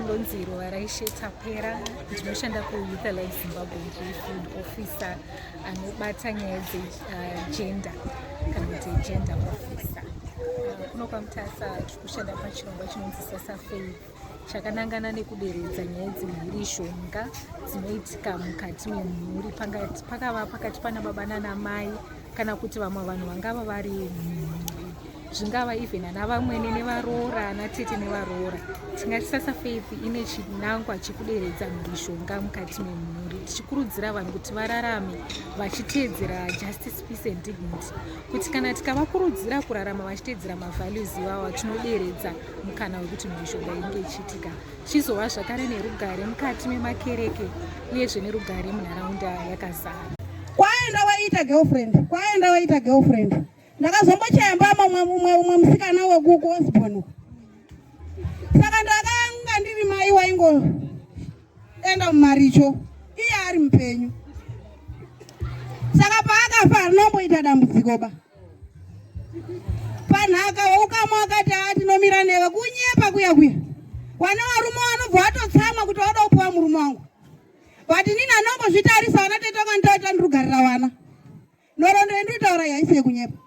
ndonzi Ruvaraishe Tapera ndinoshanda kuYouth Alive Zimbabwe ndiri field officer anobata nyaya dzegender uh, kana kuti gender officer uh, kuno kwaMutasa tiri kushanda pachirongwa chinonzi sasa faith chakanangana nekuderedza nyaya dzemhuri shonga dzinoitika mukati memhuri pakava pakati pana baba nana mai kana kuti vamwe vanhu vangava vari zvingava even ana vamwene nevaroora ana tete nevaroora tingati sasa faith ine chinangwa chekuderedza mhurishonga mukati memhuri tichikurudzira vanhu kuti vararame vachiteedzera justice peace and dignity kuti kana tikavakurudzira kurarama vachiteedzera mavalues ivava tinoderedza mukana wekuti mhurishonga inge ichiitika chizova zvakare nerugare mukati memakereke uyezve nerugare munharaunda yakazara kwaenda waita girlfriend kwaenda waita girlfriend ndakazombochaya mbama umwe umwe musikana wekuku osborn saka ndakanga ndiri mai waingoenda mumaricho iye ari mupenyu saka paakafa arinomboita dambudziko ba panhaka waukama wakati haa tinomira newe kunyepa kuya kuya wana warume wanobva watotsamwa kuti wada kupiwa murume wangu but nini anongozvitarisa wana tete wanga nditaita ndirugarira wana nhoroondo yendinotaura yaisi yekunyepa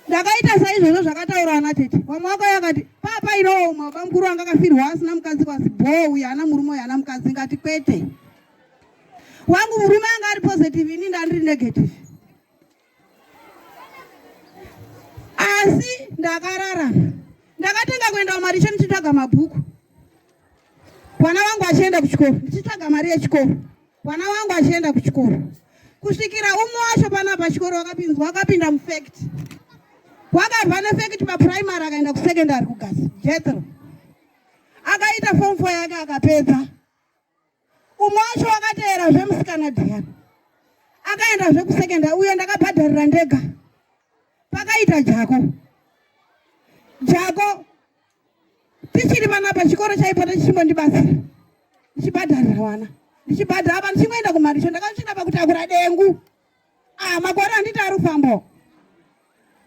ndakaita saizvozvo zvakataura ana tete vamwe vakauya akati papa inooma baba mukuru wanga akafirwa asina mukadzi kwasi bhoo uye ana murume uye ana mukadzi ngati kwete wangu murume anga ari positive ini ndandiri negative asi ndakarara ndakatanga kuenda kumaricho ndichitsvaga mabhuku vana vangu vachienda kuchikoro ndichitsvaga mari yechikoro vana vangu vachienda kuchikoro kusvikira umwe wacho pana pachikoro wakapinzwa wakapinda mufact wakabva nefact papuraimary akaenda kusecondary kugasi jetro akaita fom fo yake akapedza umwe wacho wakateera zvemusikana dhiyani akaenda zvekusekenda uyo ndakabhadharira ndega pakaita jako jako tichiri vana pachikoro chaipo ndichimbondibatsira ndichibhadharira vana ndichibhadhara apa ndichingoenda kumaricho ndakasvina pakutakura dengu ah makore handiti ari kufambawo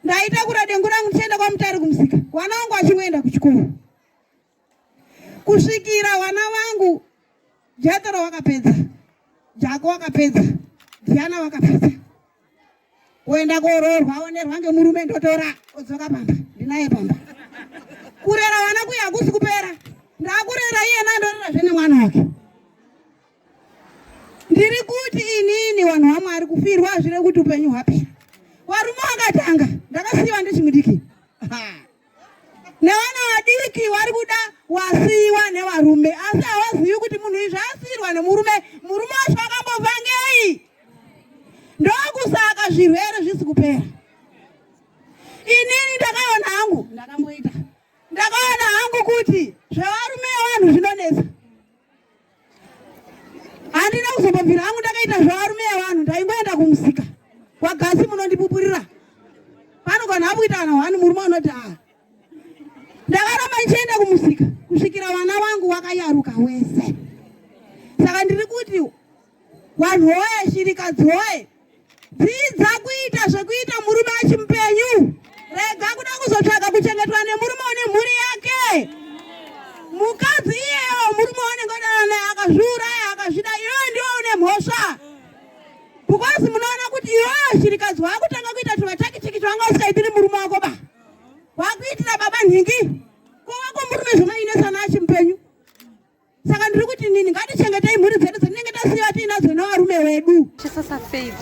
ndaitakura dengu rangu ndichienda kwamutari kumusika vana vangu vachingoenda kuchikoro kusvikira vana vangu jatara wakapedza jako wakapedza diana wakapedza kuenda koroorwa aonerwa ngemurume ndotora odzoka pamba ndinaye pamba kurera vana kuya hakusi kupera ndakurera iyena andorera zvene mwana wake ndiri kuti inini vanhu vamwari kufirwa hazvire kuti upenyu hwapera varume vakatanga ndakasiyiwa ndichimudiki nevana vadiki vari kuda wasiiwa nevarume asi havazivi kuti munhu izvi asiirwa nemurume murume wacho akambova ngei ndokusaka zvirwere zvisi kupera inini ndakaona hangu ndakamboita ndakaona hangu kuti zvevarume vanhu zvinonetsa Handina kuzopapira hangu ndakaita zvevarume evanhu ndaingoenda kumusika kwagasi munondipupurira pano kana akuita kana hwani murume anoti a ah. ndakaramba ndichienda kumusika kusvikira vana vangu wakayaruka wese saka ndiri kuti vanhu hoye shirikadzi hoye Dzidza kuita zvekuita murume achi mupenyu. Rega kuda kuzotsvaga kuchengetwa nemurume une mhuri yake. Mukadzi iyeyo murume wanenge odana naye akazviuraya akazvida iyoyo ndiwo une mhosva. Because munoona kuti iyoyo shirikadzi wakutanga kuita tuvatakitiki twanga usikaitiri murume wako ba. Wakuitira baba nhingi. Kuva kwemurume zvinoinesa nachi mupenyu. saka ndiri kuti nini ngatichengetei mhuri dzedu dzatinenge tasiva tiinadzo nevarume vedu chisasa faith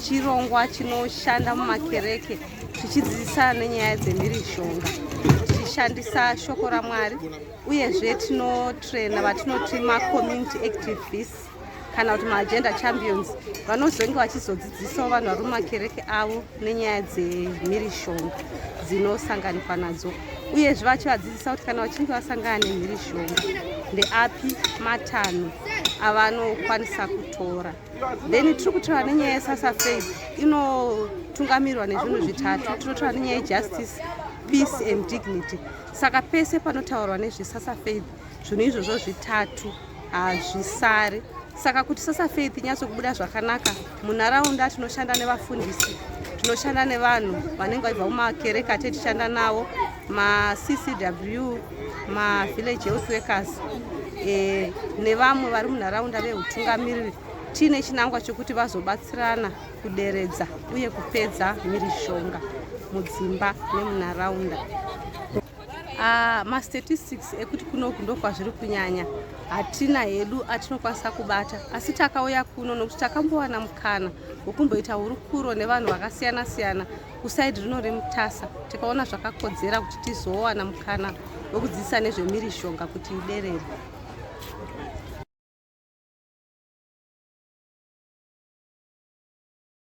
chirongwa chinoshanda mumakereke tichidzidzisana nenyaya dzemhirizhonga tichishandisa shoko ramwari uyezve tinotrena vatinoti macommunity activists kana kuti maagenda champions vanozonge vachizodzidzisawo vanhu vari mumakereke avo nenyaya dzemhirishonga dzinosanganikwa nadzo uyezve vachivadzidzisa kuti kana vachinge vasangana nemhirishonga ndeapi matanho avanokwanisa kutora then tiri kutora nenyaya yesasafaid inotungamirwa nezvinhu zvitatu tinotora nenyaya yejustice peace and dignity saka pese panotaurwa nezvesasafaith zvinhu izvozvo zvitatu hazvisari saka kuti sasa faith nyatso kubuda zvakanaka munharaunda tinoshanda nevafundisi tinoshanda nevanhu vanenge vaibva mumakereka tetichanda navo maccw mavillage health workers e, nevamwe vari munharaunda veutungamiriri tiine chinangwa chokuti vazobatsirana kuderedza uye kupedza mhirizhonga mudzimba nemunharaunda Ah, mastatistics ekuti kunoku ndokwazviri kunyanya hatina hedu atinokwanisa kubata asi takauya kuno nokuti takambowana mukana wekumboita hurukuro nevanhu vakasiyana siyana kusaidi rino remutasa tikaona zvakakodzera kuti tizowana mukana wekudzidzisa nezvemirishonga kuti iderere